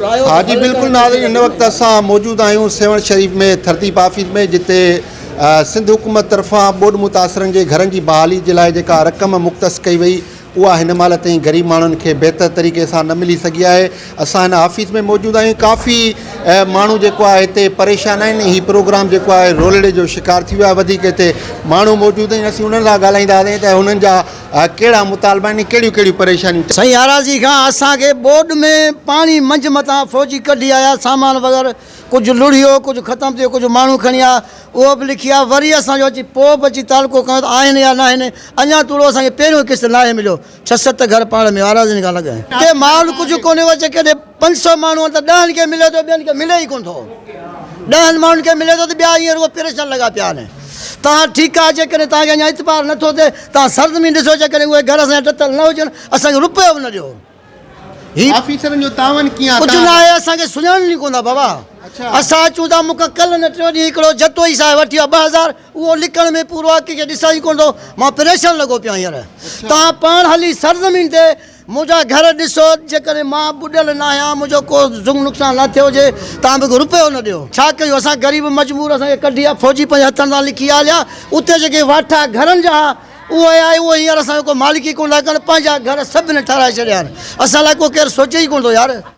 ها جي بلڪل ناظرين هن وقت اسان موجود آهيون سيوهڻ شريف ۾ ترتيب آفيس ۾ جتي سنڌ حڪومت طرفان ٻوڏ متاثرن جي گهرن جي بحالي جي لاء جيڪا رقم مختص ڪئي وئي اها هن مهل تائين غريب ماڻهن کي بهتر طريقي سان نه ملي سگهي آهي اسان هن آفيس ۾ موجود آهيون ڪافي ماڻهو جيڪو آهي هتي پريشان آهن هي پروگرام جيڪو آهي رولڙي جو شڪار ٿي ويو آهي وڌيڪ هتي ماڻهو موجود آهن اسين انهن سان ڳالهائينداسين ته هنن جا اها ڪهڙا مطالبا آهن ۽ ڪهڙيون ڪهڙيون پريشانيون ٿين؟ سائين آراضي خان اسان کي ٻوڏ ۾ پاڻي منجهه مٿان فوجي ڪڍي آيا سامان وغيره ڪجهه لڙهيو ڪجهه ختم ٿيو ڪجهه ماڻهو کڻي آيا اهو به لکي آيا وري اسان جو اچي پوء به اچي تعلقو کنيو ته آهن يا ناهن اڃان توڙو اسان کي پهريون قسط ناهي مليو ڇهه ست گهر پاڙ ۾ آراضين کان لڳ ۽ ڪي مال ڪجهه ڪونهي وچ ڪيڏي پنج سؤ ماڻهو آهن ته ڏهن کي ملي ٿو ٻين کي ملي ئي ڪونه ٿو ڏهن ماڻهن کي ملي ٿو ته ٻيا ائين رڳو پريشان لڳا پيا آهن توهان ٺيڪ آهي جيڪڏهن توهان کي اڃا اعتبار نه ٿو ٿئي توهان سرزمين ڏسو جيڪڏهن اهي گهر اسان جا ٽٽل نه هجن اسان کي روپيو به نه ڏيو هي آفيسرن جو تعاون ڪيئن آهي ڪجهه نه آهي اسان کي سڃاڻن ئي ڪونه ٿا بابا اسان اچون ٿا مون کان ڪلهه نه ٽيون ڏينهن هڪڙو جتوئي صاحب وٺي ويو ٻه هزار اهو لڪڻ ۾ پورو آهي ڪنهن کي ڏسان ئي ڪونه ٿو مان پريشان لڳو پيو آهيان هينئر توهان پاڻ هلي سرزمين تي منهنجا گهر ڏسو، جيڪڏهن مان ٻڏل ناهيان، منهنجو ڪو زنگ نقصان نه ٿيو هجي، تان به هڪ رپيو نه ڏيو. ڇا ڪيون اسان غريب مجبور اسان کي ڪڍي آ فوجي پنهنجي هٿن سان لکي آ ليا اتي جيڪي واٺا گهرن جا ها اهي آهي اهي هينئر اسان جو ڪو مالڪ ئي ڪون ٿا ڪن پنهنجا گهر سڀني ٺاهرائي ڇڏيا آهن اسان لاء ڪو ڪير سوچي ئي ڪون ٿو يار.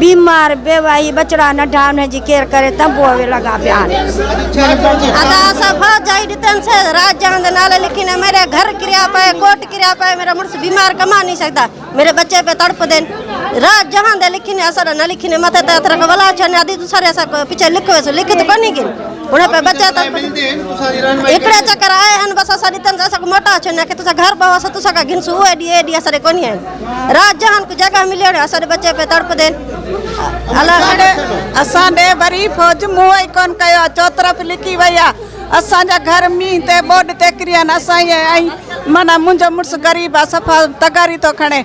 بيمار بيواهي ٻچڙا ننڍا انهن جي ڪير ڪري تنبوء ۾ لڳا پيا آهن ادا اسان ڀا جائي ڏتن سي راج جهان دي نالي لکي نه ميري گهر ڪريا پئي ڪوٽ ڪريا پئي ميرا مڙس بيمار ڪما ني سگدا ميري بچي پئي تڙپ دين راج جهان دي لکي نه اسان نه لکي نه مٿي ته اترا ولا چن ادي تو ساري اسان پڇي لک ويس لک تو ڪوني گين هن پئي بچا تن اڪڙا چڪر آئي هن بس اسان ڏتن اسان موٽا چن نه کي تو سا گهر بوا سا تو سا گهن سو اي ڊي اي ڊي اسان ڪوني آهن رات جهان ڪو جڳهه مليو نه اسڏ بچي پئي تڙپ دين الهڙ اسان ڏي وري فوج منهن ئي ڪون ڪيو آ چوطرف لڪي وئي آ اسان جا گهر مينهن تي ٻوڏ تي ڪريا نه اسان ائين ائين معنيٰ منهنجو مڙس غريب آ صفا تغاري ٿو کڻي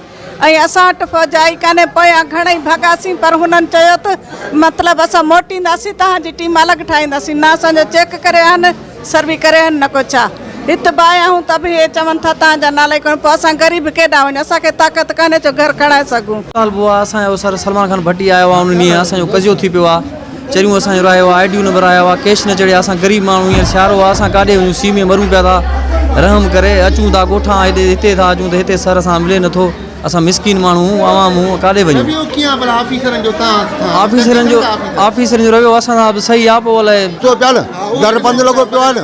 ۽ اسان وٽ فوج آئي ڪانهي پويان گهڻئي ڀڳاسين پر هنن چيو ته مطلب اسان موٽينداسين تهان جي ٽيم الڳ ٺاهينداسين نه اسان جو چيڪ ڪري آهن سر به ڪري هن نه ڪو ڇا. هت به آيا آهون ته به هي چون ٿا تان جا نالا ئي ڪونه پوء اسان غريب ڪيڏانهن وڃون اسان کي طاقت ڪانهي جو گهر کڻائي سگهون. طالب هئا اسان جو سر سلمان خان ڀٽي آيا هئا ان ڏينهن اسان جو قضيو ٿي پيو آهي چريون اسان جو راهيو آهي آئي ڊيون نمبر آيا هئا ڪيش نه چڙهيا اسان غريب ماڻهون هينئر سيارو آهي اسان ڪاڏي وڃون سي ۾ مرون پيا ٿا رحم ڪري اچون ٿا ڳوٺان هيڏي هتي ٿا اچون ته هتي سر سان ملي نٿو. اسان مسڪين ماڻهو هون عوام هون ڪاڏي وڃون. رويو ڪيئن آ ڀلا آفيسرن جو توهان سان. آفيسرن جو آفيسرن جو رويو اسان سان به صحيح آ پو الائي. چئو پيا نه در بند لڳو پيو آ نه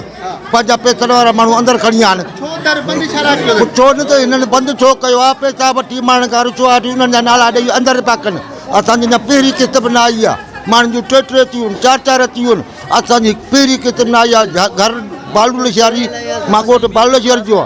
پنهنجا پيسن وارا ماڻهو اندر کڻي آيا آهن. ڇو در بند ڇا لاء ڪيو اٿن. ڇو نه ته هنن بند ڇو ڪيو آ پيسا وٺي ماڻهن کان رشوا وٺي انهن جا نالا ڏئي اندر پيا ڪن اسان جي اڃا پهرين قسط به نه آئي آ ماڻهن جون ٽي ٽي ٿيون آهن چار چار ٿيون آهن اسان جي پهرين قسط نه آئي آ گهر بالو لشاري مان ڳوٺ بالو لشاري جو آ.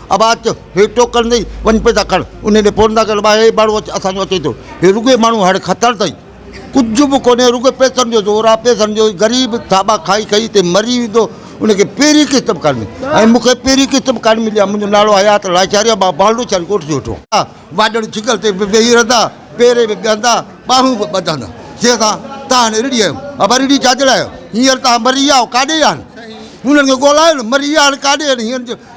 آواز ٿيو، هي ٽوڪر نئي، وڃ پيدا کڻ. انهيء ڏي پورهندا ڪيو ته ٻاهر هي ماڻهو اسان جو اچي ٿو. هي رڳو ئي ماڻهو هڙ کتڻ تائين ڪجهه به ڪونهي، رڳو پئسن جو زور آهي، پئسن جو ئي غريب ٿاٻا کائي کائي هتي مري ويندو. ان کي پهرين قسط به ڪانه ملي ۽ مون کي پهرين قسط به ڪانه ملي آهي. منهنجو نالو حيات لاشاري آهي، مان بالهو شاري ڳوٺ جو هيٺون. واڄڻ ڇڪل تي به ويهي رهندا، پيري به ٻهندا، ٻانهون به ٻڌندا. جنهن سان تان هاڻي رڙهي آيو. ابا رڙهي ڇا جي لاء آيو؟ هينئر تان مري ويا هئا، ڪاڏي ويا آهن؟ هنن کي ڳولهايو نه، مري ويا آهن، ڪاڏي ويا آهن؟ هينئر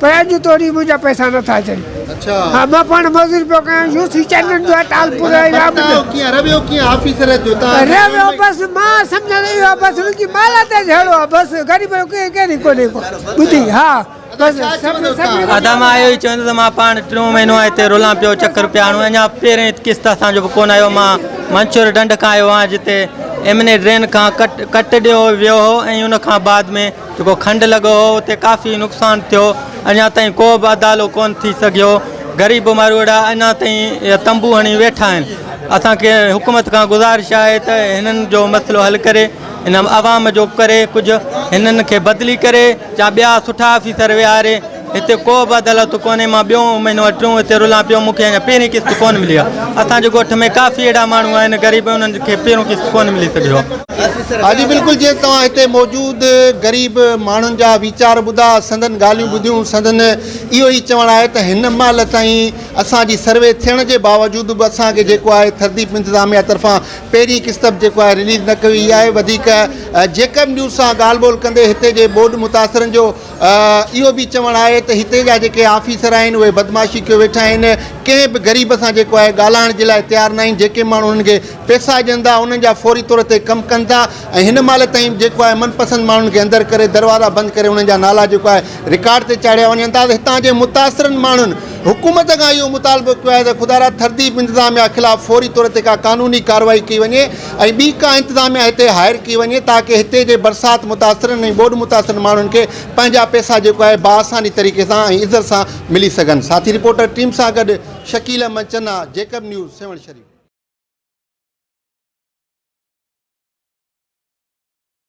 پر اڄ توڙي منهنجا پئسا نه ٿا اچن. ها مان پاڻ مزوري پيو ڪيان يو سي چئنل جو آهي ٽالپور ۽ رابط جو. رهيو ڪيئن آفيسر جو تان جي ايم اي. بس مان سمجهان اهو آهي بس ان جي مالات ته جهڙو آهي بس غريب جو ڪيئن ڪيئن نڪو نڪو ٻڌي ها بس سڀ سڀ. ادا مان اهو ئي چوندو ته مان پاڻ ٽيون مهينو آهي هتي رولان پيو چڪر پيا هڻون اڃا پهرين قسط اسان جو به ڪونه آيو مان منڇور ڍنڍ کان آيو آهيان جتي ايم اين اي ڊرين کان ڪٽ ڪٽ ڏيو ويو هو ۽ ان کان بعد ۾ جيڪو کنڊ لڳو هو اتي ڪافي نقصان ٿيو اڃا تائين ڪو به ادالو ڪونه ٿي سگهيو غريب ماروئڙا اڃا تائين تنبو هڻي ويٺا آهن اسان کي حڪومت کان گذارش آهي ته هنن جو مسئلو حل ڪري هن عوام جو ڪري ڪجهه هنن کي بدلي ڪري يا ٻيا سٺا آفيسر ويهاري هتي ڪو به عدالت ڪونهي مان ٻيون مهينو يا ٽيون هتي رلان پيو مون کي اڃا پهرين قسط ڪونه ملي آهي اسان جي ڳوٺ ۾ ڪافي اهڙا ماڻهو آهن غريب انهن کي پهريون قسط ڪونه ملي سگهيو آهي. ها جي بلڪل جيئن توهان هتي موجود غريب ماڻهن جا ويچار ٻڌا سندن ڳالهيون ٻڌيون سندن اهو ئي چوڻ آهي ته هن مهل تائين اسان جي سروي ٿيڻ جي باوجود به اسان کي جيڪو آهي ٿرديپ انتظاميه طرفان پهرين قسط به جيڪو آهي رليز نه ڪئي وئي آهي وڌيڪ جيڪب نيوز سان ڳالهه ٻولهه ڪندي هتي جي ٻوڏ متاثرن جو اهو به چوڻ آهي ته هتي جا جيڪي آفيسر آهن اهي بدمعاشي ڪيو ويٺا آهن ڪنهن به غريب سان جيڪو آهي ڳالهائڻ جي لاء تيار ناهن جيڪي ماڻهو انهن کي پيسا ڏين ٿا انهن جا فوري طور تي ڪم ڪن ٿا ۽ هن مهل تائين جيڪو آهي من پسند ماڻهن کي اندر ڪري دروازا بند ڪري انهن جا نالا جيڪو آهي رڪارڊ تي چاڙهيا وڃن ٿا ته هتان جي متاثرن ماڻهن حڪومت کان اهو مطالبو ڪيو آهي ته خدارا تھذيب انتظاميا خلاف فوري طور تي ڪا قانوني ڪارروائي ڪئي وڃي ۽ ٻي ڪا انتظاميا هتي هائير ڪئي وڃي تاڪه هتي جي برسات متاثرن ۽ ٻوڏ متاثرن ماڻهن کي پنهنجا پئسا جيڪو آهي بآساني طريقي سان ۽ عزت سان ملي سگهن ساٿي رپورٽر ٽيم سان گڏ شڪيل احمد چنا جيڪب نيوز سيوهڻ شريف.